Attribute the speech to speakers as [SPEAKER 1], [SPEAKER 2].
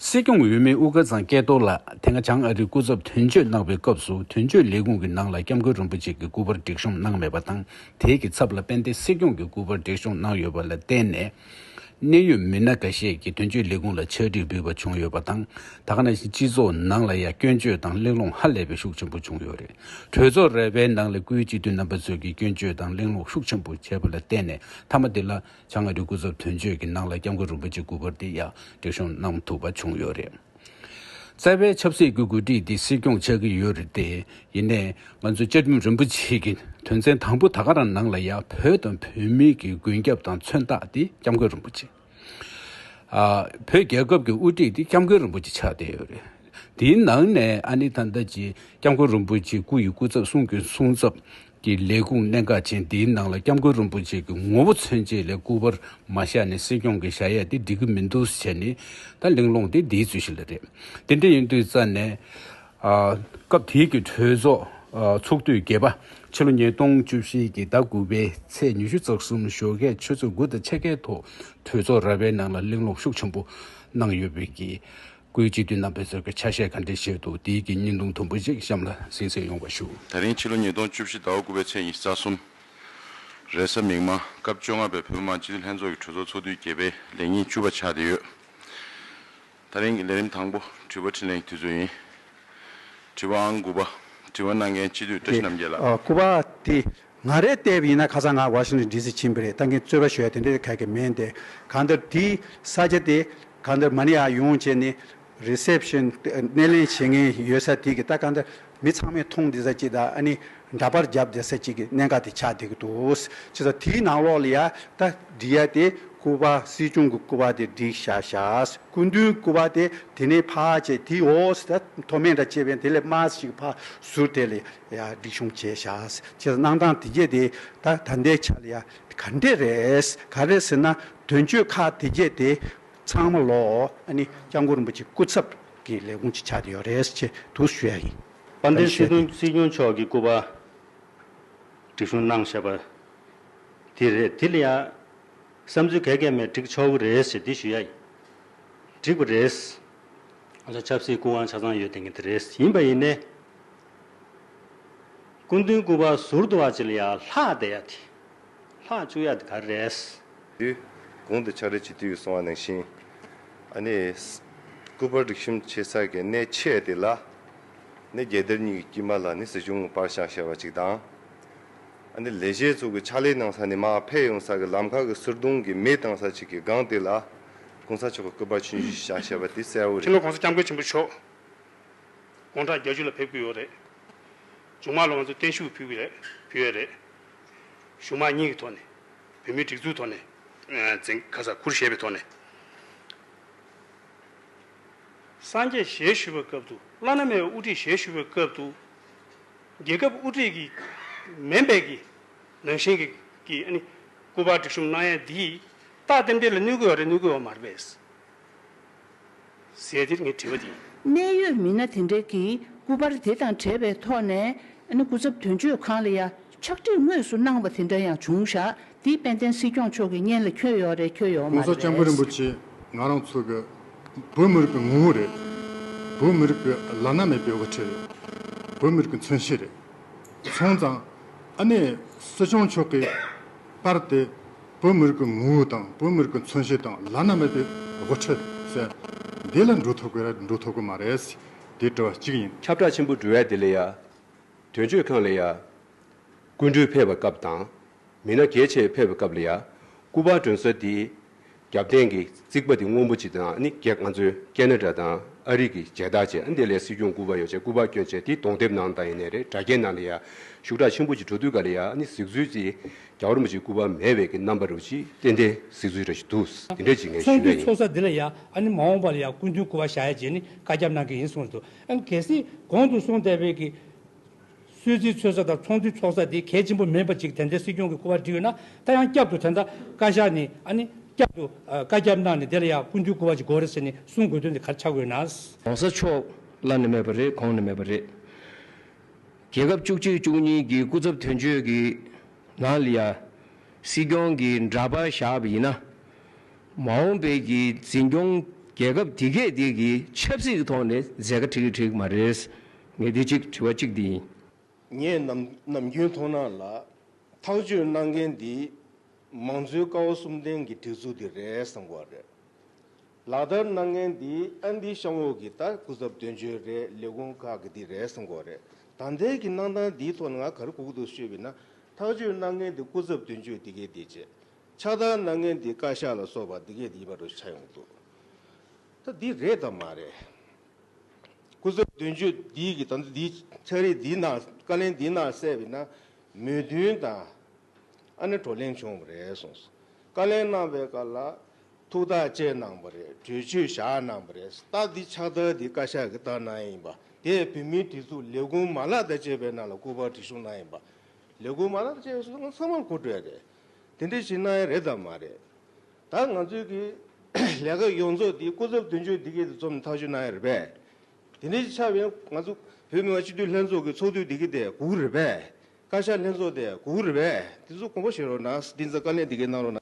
[SPEAKER 1] སྲིད་སྐྱོང་འོས་མི་དབུ་དཀར་ཚང་སྐལ་རྡོར་ལགས་དེ་སྔ་བྱང་ཨ་རིའི་སྐུ་ཚབ་དོན་གཅོད་གནང་བའི་སྐབས་སུ་དོན་གཅོད་ལས་ཁུངས་ཀྱི་ནང་ལ་སྐྱབས་མགོན་རིན་པོ་ཆེ་གི་སྐུ་པར་སྒྲིག་གཤོམ་གནང་མེད་པ་དང་དེའི་གི་ཚབ་ལ་དཔལ་ལྡན་སྲིད་སྐྱོང་གི་སྐུ་པར་སྒྲིག་གཤོམ་གནང་ཡོད་པ་ལ་བརྟེན་ནས། གནད་ཡོད་མི་སྣ་འགའ་ཤས་ཀྱིས་དོན་གཅོད་ལས་ཁུངས་ལ་ཕྱག་བྲིས་འབུལ་བ་བྱུང་ཡོད་པ་དང། ད་ག་ནང་བཞིན་སྤྱི་ཚོགས་ནང་ལ་ཡང་སྐྱོན་བརྗོད་དང་གླེང་སློང་ཧ་ལས་པའི་ཤུགས་ཆེན་པོ་བྱུང་ཡོད་རེད། གྲོས་ཚོགས་རལ་པའི་ནང་ལས་འགུལ་སྤྱི་འཐུས་རྣམ་པ་ཚོས་ཀྱིས་སྐྱོན་བརྗོད་དང་གླེང་སློང་ཤུགས་ཆེན་པོ་བྱས་པ་ལ་བརྟེན་ནས་མཐའ་མ་དེ་ལ། བྱ་ང་རིགས་སྐུ་ཚབ་དོན་གཅོད་ཀྱི་ནང་ལ་སྐྱབས་མགོན་རིན་པོ་ཆེ་སྐུ་པར་འདི་ཡང་སྒྲིག་གཤོམ་གནང་ཐུབ་པ་བྱུང་ཡོད་རེད། རྩ་བའི་ཆབ་སྲིད་ཀྱི་འགོ་ཁྲིད་འདི་སྲིད་སྐྱོང་ཆགས་ཀྱི་ཡོད་རེད་དེ། ཡིན་ནས་ང་ཚོ་བཅའ་ཁྲིམས་རིན་པོ་ཆེ་གི་དོན་ཚན་དང་པོ་ད་ག་རང་ནང་ལ་ཡང་བོད་དང་བོད་མི་གི་མགོན་སྐྱབས་དང་མཚོན་རྟགས་འདི་སྐྱབས་མགོན་རིན་པོ་ཆེ། བོད་རྒྱལ་ཁབ་ཀྱི་དབུ་ཁྲིད་འདི་སྐྱབས་མགོན་རིན་པོ་ཆེ་ཆགས་བསྡད་ཡོད་རེད། འདིའི་ནང་ནས་ཨ་ནི་ད་ལྟ་ཀྱི་སྐྱབས་མགོན་རིན་པོ་ཆེ་སྐུ་ཡི་སྐུ་ཚབ་གསུང་གི་གསུང་ཚབ། ཀྱི་ལས་ཁུངས་གནད་འགག་ཅན་དེའི་ནང་ལ་སྐྱབས་མགོན་རིན་པོ་ཆེ་གི་ངོ་བོ་མཚོན་བྱེད་ལས་སྐུ་པར་མ་བཞག་ནས་སྲིད་སྐྱོང་གི་བཞག་ཡས་དེ་འགྲིག་གི་མི་འདུག་བྱས་ནས་ད་གླེང་སློང་དེ་དེའི་ཚུལ་ཞིག་ལ་རེད། དེ་འདྲ་ཡིན་དུས་རྩ་ནས། སྐབས་དེའི་གི་གྲོས་ཚོགས་ཚོགས་དུས་བརྒྱད་པ། ཕྱི་ལོ་ཉིས་སྟོང་བཅུ་བཞི་གི་ཟླ་དགུ་པའི་ཚེས་ཉི་ཤུ་རྩ་གསུམ་ཞོགས་ཁས་ཆུ་ཚོད་དགུ་དང་ཕྱེད་ཀའི་ཐོག་གྲོས་ཚོགས་ར་བའི་ནང་ལ་གླེང་སློང་ཤུགས་ཆེན་པོ་གནང་ཡོད་པའི་གི་སྐུའི་སྤྱི་འཐུས་རྣམ་པས་ཟུར་གྱི་ཆ་ཤས་ག་འདྲའི་ཞིག་འདུག་དེའི་གི་སྙིང་དུང་དུམ་བུ་ཞིག་གཤམ་ལ་ཟིན་ཟིན་ཡོང་བ་ཞུ། ད་རིང་ཕྱི་ལོ་ཉིས་སྟོང་བཅུ་
[SPEAKER 2] བཞི་ཟླ་བ་དགུ་པའི་ཚེས་ཉི་ཤུ་རྩ་གསུམ་རེས་གཟའ་མིག་མ་སྐབས་བཅོ་ལྔ་པའི་བོད་མི་མང་སྤྱི་འཐུས་ལྷན་ཚོགས་ཀྱི་གྲོས་ཚོགས་ཚོགས་དུས་བརྒྱད་པའི་ལས་ཉིན་བཅུ་པ་ཆགས་བསྡད་ཡོད། ད་རིང་གི་ལས་རིམ་དང་པོ་དྲི་བ་འཕྲིན་ལན་གྱི་དུས་ཚོད་ཡིན། དྲི་བ་ཨང་དགུ་པ། དྲི་བ་གནང་མཁན་སྤྱི་འཐུས་བཀྲ་ཤིས་རྣམ་རྒྱལ་ལགས། དགུ་པ། དེ་
[SPEAKER 3] ང་རེ་ལྟའི་ཡིན་ན་ཁ་སང་ང Washington DC ཕྱིན་པ་རེད་ལྟ་མཁན་རྩོད་པ་ཞོལ་དེ་འདྲ་དེ་ག་གེ་མེན་དེ་གང་ལྟར་དེའི་ས་ཆ་དེ་གང་ལྟར་མ་ནི་ཨ་ཡོང་བྱས་ནི Reception སྣེ་ལེན་བྱེད་མཁན་ཡོད་ས་དེ་གི་ལྟ་གང་ལྟར་མི་ཚང་མས་མཐོང་བདེ་ས་ཅིག་དང་ཨ་ནི་འདྲ་པར་རྒྱབ་བདེ་ས་ཅིག་གི་གནད་འགག་དེ་ཆགས་བསྡད་ཀྱི་འདུག་ཅེས་སོགས་དེའི་ནང་ལོགས་ལ་ཡ་ལྟ་འབྲི་ཡ་དེ་སྐུ་པར་སྲིད་སྐྱོང་གི་སྐུ་པར་དེ་བསྒྲིགས་བཞག་བཞག་སྐུ་མདུན་སྐུ་པར་དེ་དེ་ནས་ཕ་ཅེས་དེའི་འོག་ས་མཐོ་དམན་འདྲ་ཅེས་པའི་དེ་ལས་དམའ་ས་ཞིག་གི་ཕ་ཟུར་དེ་ལ་ཡ་སྒྲིག་ཆུང་བྱས་བཞག་ཅེས་གནང་སྟངས་དེ་རྒྱས་དེ་ད་ད་ལྟའི་ཆ་ལ་ཡ་ག་འདྲེ་རེད་ག་རེད་ཟེར་ན་དོན་གཅོད་ཁག་དེ་རྒྱས་དེ་ཚང་མ་ལོ་ཨ་ནི་སྐྱབས་མགོན་རིན་པོ་ཆེ་སྐུ་ཚབ་ཀྱི་ལས་ཁུངས་ཅིག་ཆགས་ཀྱི་ཡོད་རེད་ཅེས་དུ་ཞུ་ཡ་ཡིན། དཔལ་ལྡན་སྲིད་དོན་
[SPEAKER 4] སྲིད་སྐྱོང་མཆོག་གི་སྐུ་པར་སྒྲིག་ཆུང་གནང་བཞག་པ་དེ་རེད་དེ་ལ་ཡ་བསམ་ཚུལ་ག་གེ་མེད་སྒྲིག་ཆོག་གི་རེད་ཅེས་དེ་ཞུ་ཡ་ཡིན། འགྲིག་པ་རེད། ཆབ་སྲིད་སྐུ་དབང་ཆ་ཚང་ཡོད་དེ་ངེས་དེ་རེད་ཡིན་པ་ཡིན་ནའི། སྐུ་མདུན་སྐུ་པར་ཟུར་དུ་བ་ཅི་ལ་ཡ་ལྷག་བསྡད་ཡ་དེ། ལྷག་བཅུག་ཡ་དེ་ག་རེད། དེ།
[SPEAKER 2] གོང་དུ་ཕྱག་རེ་བྱེད་དུས་གསུང་བ་ནང་བཞིན། ཨ་ནི། སྐུ་པར་སྒྲིག་གཤོམ་བྱེད་ས་གའི་གནས་ཆས་དེ་ལ། ནི་རྒྱལ་དར་གཉིས་ཀྱི་དཀྱིལ་མ་ལ་ནི་སྲིད་སྐྱོང་གི་པར་ཞག་ཞེས་བ་ཅིག་དང། ཨ་ནི་ལས་བྱེད་ཚོགས་ཀྱི་ཕྱག་ལས་གནང་ས་ནི་མ་ཕེབས་ཡོང་ས་གི་ལམ་ཁ་གི་སིར་དུང་གི་མེ་བཏང་ས་ཅིག་གི་སྒང་དེ་ལ། གོང་ས་མཆོག་གི་སྐུ་པར་ཆུན་བཞི་ཞག་ཞེས་བ་དེ་གསལ་བོ་ཁྱེད་རེད། ལོ་གོང་ས་སྐྱབས་མགོན་ཆེན་པོ་མཆོག།
[SPEAKER 5] དགོང་གྲངས་བརྒྱ་ཅུ་ལ་ཕེབས་ཀྱི་ཡོད་རེད། མཇུག་མ་ལོ་ང་ཚོས་བརྟན་བཞུགས་ཕུལ་གྱི་རེད་ཕུལ་ཡས་རེད། གཞུང་མང་གཉིས་ཀྱི་ཐོག་ནས། བོད་མིའི་སྒྲིག་འཛུགས་ཐོག་ནས། འཛིན། ཁ་ས་ཁུར་བཞེས་པའི་ཐོག་ནས། སངས་རྒྱས་བཞེས་ཞུས་པའི་སྐབས་དུ། བླ་ན་མེད་པའི་དབུ་ཁྲིད་བཞེས་ཞུས་པའི་སྐབས་དུ། རྒྱལ་ཁབ་དབུ་ཁྲིད་ཀྱི། མེ་འབད་ཀྱི། ནང་བཞིན་གྱི། ཀྱི་ཨ་ནི། སྐུ་པར་སྒྲིག་གཤོམ་གནང་ཡས་འདིས། རྟགས་རྟེན་འབྲེལ་ལ་གནོད་གི་ཡོད་རེད་གནོད་གི་ཡོད་མ་རེད་པས། ཟེར་དེར་ངས་དྲིས་པ་འདི་ཡིན། གནད་ཡོད་
[SPEAKER 6] མི་སྣ་དེ་འདྲས་ཀྱིས་སྐུ་པར་དེ་དང་བྲལ་བའི་ཐོག་ནས་སྐུ་ཚབ་དོན་གཅོད་ཁང་ལ་ཡ་ཕྱག་བྲིས་དངོས་སུ་གནང་བ་དེ་འདྲ་ཡང་བྱུང་བཞག་འདི་དཔལ་ལྡན་སྲིད་སྐྱོང་མཆོག་གི་སྙན་ལ་འཁྱོལ་ཡོད་རེད་འཁྱོལ་ཡོད་མ་གོང་ས་རེད་ལྕམ་སྐུ་རིན་པོ་བས། ཆེ་
[SPEAKER 7] ང་རང་ཚོ་གི་བོད་མི་རིགས་ཀྱི་ངོ་བོ་རེད། བོད་མི་རིགས་ཀྱི་བླ་ན་མེད་པའི་དབུ་ཁྲིད་རེད། བོད་མི་རིགས་ཀྱི་མཚོན་བྱེད་རེད། མཚུངས་ཙང་ཨ་ནེ་སྲིད་སྐྱོང་མཆོག་གིས་པར་ཏེ། བོད་མི་རིགས་ཀྱི་ངོ་བོ་དང་བོད་མི་རིགས་ཀྱི་མཚོན་བྱེད་དང་བླ་ན་མེད་པའི་དབུ་ཁྲིད་ཟེར། འདི་ལ་འགྲོ་ཐུབ་གི་རེད་འགྲོ་ཐུབ་གི་མ་རེད། དེ་དྲི་བ་གཅིག་ཡིན། ཁྱབ་བསྒྲགས་ཆེན་པོ་འབྲུ་བལ་དེ་
[SPEAKER 8] ལས་ཡ། དོན་གཅོད་ཁང་ལས་ཡ། སྐུ་མགྲོན་ཕེབས་པའི་སྐབས་དང། མི་སྣ་གལ་ཆེ་ཕེབས་པའི་སྐབས་ལས་ཡ། སྐུ་པར་སྒྲོན་གསལ་དེ། རྒྱབ་རྟེན་གྱི་རྩིག་པ་དེ་སྔོན་པོ་ཅིག་དང་ནི་གེགས་ང་ཚོའི་ཀེ་ན་ཏྲ་དང་ཨ་རིག་གི་མཇལ་དར་བྱས་འདི་ལས་སྲིད་སྐྱོང་སྐུ་པར་ཡོ་བྱད་སྐུ་པར་བསྐྱོན་བྱས་དེ་གདོང་དེབ་ནང་དང་ཡེ་ནས་རེད་དྲ་རྒྱའི་ནང་ལ་ཡ་ཞུགས་གྲགས་ཆེན་པོ་ཅིག་འགྲོ་དུས་ག་ལ་ཡ་ནི་གཟིགས་ཚུལ་ཅིག་རྒྱ་གར་མོ་ཅིག་སྐུ་པར་མེད་བས་ཀྱི་རྣམ་པ་རུ་ཅིག་ཏན་ཏན་གཟིགས་ཚུལ་རེ་ཞིག་འདུག་འདི་འདྲ་ཅིག་ངས་ཞུས་ཚོགས་འདུའི་ཡ་ཡིན། ཚོགས་ས་འདི་ལ་ཡ་
[SPEAKER 9] ནི་མ་འོངས་པ་ལ་ཡ་སྐུ་མདུན་སྐུ་པར་བཞག་ཡ་རྗེས་ནི་བཀའ་རྒྱབ་གནང་གི་ཡིན་གསུངས་འདུག་གལ་སྲིད་གོང་དུ་གསུངས་བསྡད་པའི་ཀྱི་གསོལ་ཚིགས་འཚོལ་ས་དང་ཚོགས་འདུའི་ཚོགས་ས་དེ་གལ་ཆེན་པོ་མིན་པ་ཅིག་དེ་འདྲའི་སྲིད་སྐྱོང་གི་སྐུ་པར་འབྲི་ཡོད་ན་ད་ཡང་བསྐྱར་དུ་དེ་འདྲ་བཀའ་ཤག་ནས་ཨ་ནི་བསྐྱར་དུ་བཀའ་རྒྱ་གནང་ནས་དེ་ལ་ཡང་སྐུ་འདུས་སྐུ་བར་ཅིག་དགོས་རེད་ཟེར་ནས་གསུང་དགོས་དོན་དེ་གར་ཆགས་དགོས་ན། གོང་ས་མཆོག་
[SPEAKER 4] ལ་ནི་མེད་པ་རེད་གོང་ནས་མེད་པ་རེད། རྒྱལ་ཁབ་བཅུ་གཅིག་བཅུ་གཉིས་ཀྱི་སྐུ་ཚབ་དོན་གཅོད་ཀྱི་ནང་ལ་ཡང་སྲིད་སྐྱོང་གི་འདྲ་པར་བཞག་པ་ཡིན་ན། མ་འོངས་པའི་གི་འཛིན་སྐྱོང་རྒྱལ་
[SPEAKER 10] ཁབ་དེ་གས་དེ་གི་ཆབ་སྲིད་ཀྱི་ཐོག་ནས་མཛད་དཀའ་འཁྲིག་གི་འཁྲིག་མ་རེད། ངས་འདི་གཅིག་དྲི་བ་གཅིག་འདི་ཡིན། ངས་
[SPEAKER 11] ནམ་རྒྱུན་མཐོང་སྣང་ལ། ཐག་གཅོད་གནང་མཁན་འདི། མང་གཙོའི་བཀའ་བ་གསུམ་ལྡན་གྱི་སྒྲིག་འཛུགས་འདི་རེད་བསམ་གོ་རེད། ལག་བསྟར་གནང་མཁན་འདི་ཨ་འདི་གཤམ་འོག་གི་ད་སྐུ་ཚབ་དོན་གཅོད་རེད་ལས་ཁུངས་ཁག་གི་འདི་རེད་བསམ་གོ་རེད། ད་ལྟའི་གི་གནང་སྟངས་འདིའི་ཐོག་ན་ང་གར་སྒུག་འདུག་ཤོད་བི་ན། ཐག་གཅོད་གནང་མཁན་འདི་སྐུ་ཚབ་དོན་གཅོད་འདི་གས་འདི་བྱས། ཕྱག་བསྟར་གནང་མཁན་འདི་བཀའ་ཤག་ལ་སོགས་པ་འདི་གས་འདི་ཡིན་པ་རུ་ཆགས་ཡོང་གི་འདུག། ད་འདི་རེད་དམ་མ་རེད། སྐུ་ཚབ་དོན་གཅོད་འདིས་ཀྱིས་ད་ལྟ་འདིའི་ཕྱག་རིས་འདིའི་ནང་བཀའ་ལན་འདིའི་ནང་གསལ་བའི་ནང་མོས་མཐུན་དང་ཨ་ནེ་བགྲོ་གླེང་བྱུང་བ་རེད་གསུངས་སོ། བཀའ་ལན་གནང་བའི་སྐབས་ལ་ཐུགས་ཐག་བཅད་གནང་བ་རེད་གྲོས་ཆོད་བཞག་གནང་བ་རེད་སྟབས་འདི་ཕྱག་རྟགས་འདི་བཀའ་ཤག་གི་ལྟར་གནང་ཡིན་པ་དེ་བོད་མིའི་སྒྲིག་འཛུགས་ལས་ཁུངས་མ་ལག་དང་བཅས་པའི་ནང་ལ་སྐུ་པར་བྲིས་གཞུང་གནང་ཡིན་པ། ལས་ཁུངས་མ་ལག་དང་བཅས་པའི་སོ་ལྟ་ཚང་མར་གོ་སྒྲོས་རེད། དེ་འདྲས་ཞིག་གནང་ཡ་རེད་དམ་མ་རེད། ད་ང་ཚོའི་གི་ལས་ཀ་ཡོངས་རྫོགས་འདི་སྐུ་ཚབ་དོན་གཅོད་འདི་གི་དུ་རྩོམ་ཐག་གཅོད་གནང་ཡ་རེད་པས། དེ་འདྲའི་ཆ་བས་ང་ཚོ་བོད་མི་མང་སྤྱི་འཐུས་ལྷན་ཚོགས་གི་ཚོགས་དུས་འདི་གི་དེ་གུག་རེད་པས། བཀའ་ཤག་ལྷན་ཚོགས་དེ་གུག་རེད་པས་དེ་ཚོ་གོང་པོ་བཞེས་རོགས་གནང་འདི་ཚ་བཀའ་ལན་འདི་གི་གནང་རོགས་གནང།